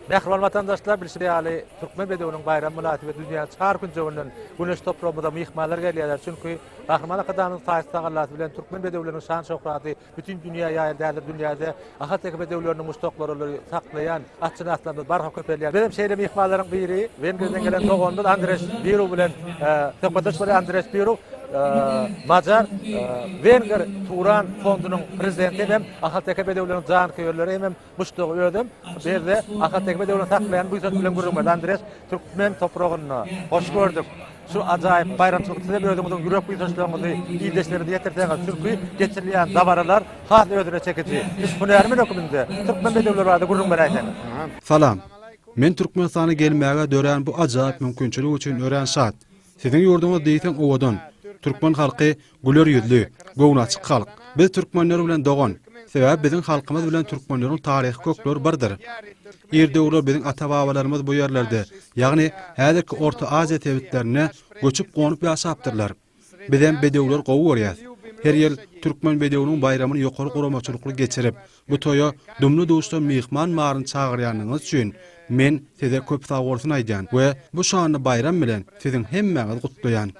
Mähriban watandaşlar, bilşi ýaly, türkmen bedewiniň baýramy mynasybetli dünýäniň çar künjeginden güneş topragymyza myhmanlar gelýärler, çünki Gahryman Arkadagymyzyň taýsyz tagalasy bilen türkmen bedewleriniň şan-şöhraty Bütin dünýä ýaýan däldir dünýäde Ahal Teke bedewleriniň muşdaklaryly saklaýan atşynaslarymyz barha köpelýär. Bizem şeýle myhmanlaryň biri Wengriýadan gelen doganymyz Andreş Biru bilen söhbetdeş bolýar. Andreş Biru Macar Wengr Turan fondunyň prezidenti hem Ahal Teke bedewleriniň janköýerleri hem Muşdagy özem Berde Ahal Tekme döwrüni saklaýan buýsanç bilen gürrüňberdi Andres türkmen topragynda. Hoş gördük. Şu ajaýyp baýramçylykda sizem özüňiziň ýürek buýsançlaryňyzy ildeşleriňize ýetirseňiz, çünki geçirilýän dabaralar has özüne çekiji. Siz hünärmen höküminde türkmen bedewleri barada gürrüň beräýseňiz. Salam. Men Türkmenistana gelmäge dörän bu ajaýyp mümkinçilik üçin örän şat. Siziň ýurduňyz diýseň owadan. Türkmen halky Güler ýüzli, göwni açyk halk. Biz türkmenler bilen dogan. Sebäbi biziň halkymyz bilen türkmenleriň taryhy kökleri birdir. Ir döwürler biziň ata-babalarymyz bu ýerlerde, ýagny häzirki Orta Aziýa sebitlerinde göçüp-gonup ýaşapdyrlar. Bizem bedewleri gowy görýäs. Her ýyl türkmen bedewiniň baýramyny ýokary guramaçylykly geçirip, Bu toýa dumly-duşdan myhman baryny çagyrýanyňyz üçin men Size köp sagbolsun aýdýan we bu şanly baýram bilen Siziň hemmäňizi gutlaýan.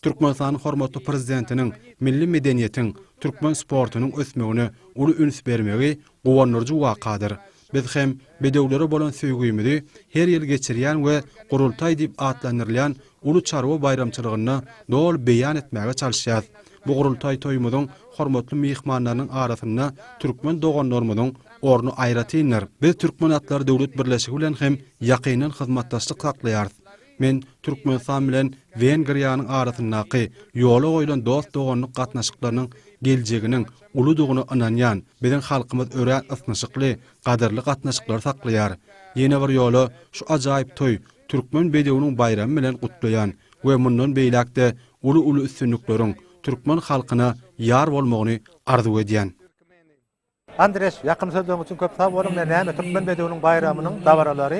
Türkmenistanyň hormatly Prezidentiniň milli medeniýetiň, türkmen sportunyň ösmegine uly üns bermegi guwandyryjy wakadyr. Biz hem bedewlere bolan söýgümizi her ýyl geçirýän we Gurultaý diýip atlandyrylýan uly çarwa baýramçylygynda doly beýan etmäge çalyşýarys. Bu gurultaý toýumyzyň hormatly myhmanlarynyň arasynda türkmen doganlarymyzyň orny aýratyndyr. Biz Türkmen atlary döwlet birleşigi bilen hem ýakyndan hyzmatdaşlyk saklaýarys. Men Türkmenistan bilen Wengriýanyň arasyndaky ýola goýlan dost-doganlyk gatnaşyklarynyň geljeginiň uludygyna ynanýan. Biziň halkymyz örän ysnyşykly, gadyrly gatnaşyklary saklaýar. Ýene bir ýola şu ajaýyp toý türkmen bedewiniň baýramy bilen gutlaýan we mundan beýläk-de uly-uly üstünlikleriň türkmen halkyna ýar bolmagyny arzuw edýän. Andreş, ýakymly sözleriňiz üçin köp sag boluň. Ine, näme, türkmen bedewiniň baýramynyň dabaralary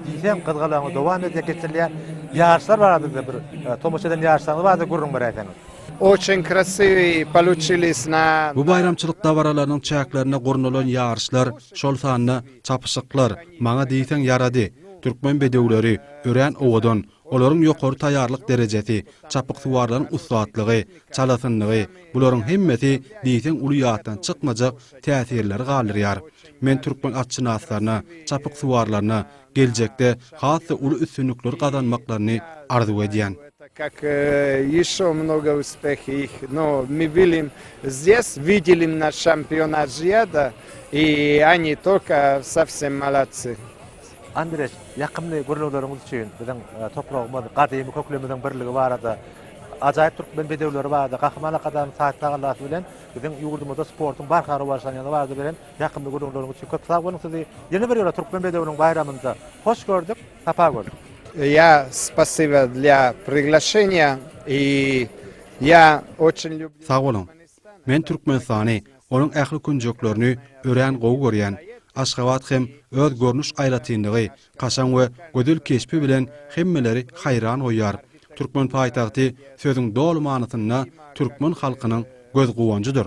diýseň gyzgalaňly dowam edýär, geçirilýär. Ýaryşlar barada-da bir tomaşa eden ýaryşlaryňyz barada gürrüň beräýseňiz. Oçün krasiwi paluçilis na. Bu baýramçylyk dabaralarynyň çäklerinde gurnalan ýaryşlar, şol sanda, Çapyşyklar, maňa diýseň ýarady. Türkmen bedewleri, örän owadan. Olaryň ýokary taýýarlyk derejesi, çapyksuwarlaryň ussatlygy, çalasynlygy, bularyň hemmesi diýseň uly ýatdan çykmajak täsirleri galdyrýar. Men türkmen atşynaslaryna, çapyksuwarlaryna geljekde has-da uly üstünlikleri gazanmaklaryny arzuw edýän. Tak kak ýeşo mnogo uspeh ih no mi bilim zdes wideli im naş şampion aziýada i oni tolka sovsem molodsy. Andreç, ýakymly gürrüňleriňiz üçin, biziň topragymyz, gadymy köklerimiziň birligi barada, ajaýyp türkmen bedewleri barada, Gahryman Arkadagymyz Taýyp tagallasy bilen biziň ýurdumyzda sportuň barha rowaçlanýany barada beren ýakymly gürrüňleriňiz üçin köp sag boluň sizi ýene bir ýola Türkmen bedewiniň baýramynda hoş gördük. Sapa göz. Ýa spasiba dla priglaşeniýa i ýa oçin lýublýu. Sag boluň. Men Türkmenistany, onuň ähli künjeklerini örän gowy görýän. Aşgabat hem öz görnüş aýratynlygy, kaşaň we gözel keşbi bilen hemmeleri haýran goýýar. Türkmen paýtagty sözüň doly manysynda türkmen halkynyň göz guwanjydyr.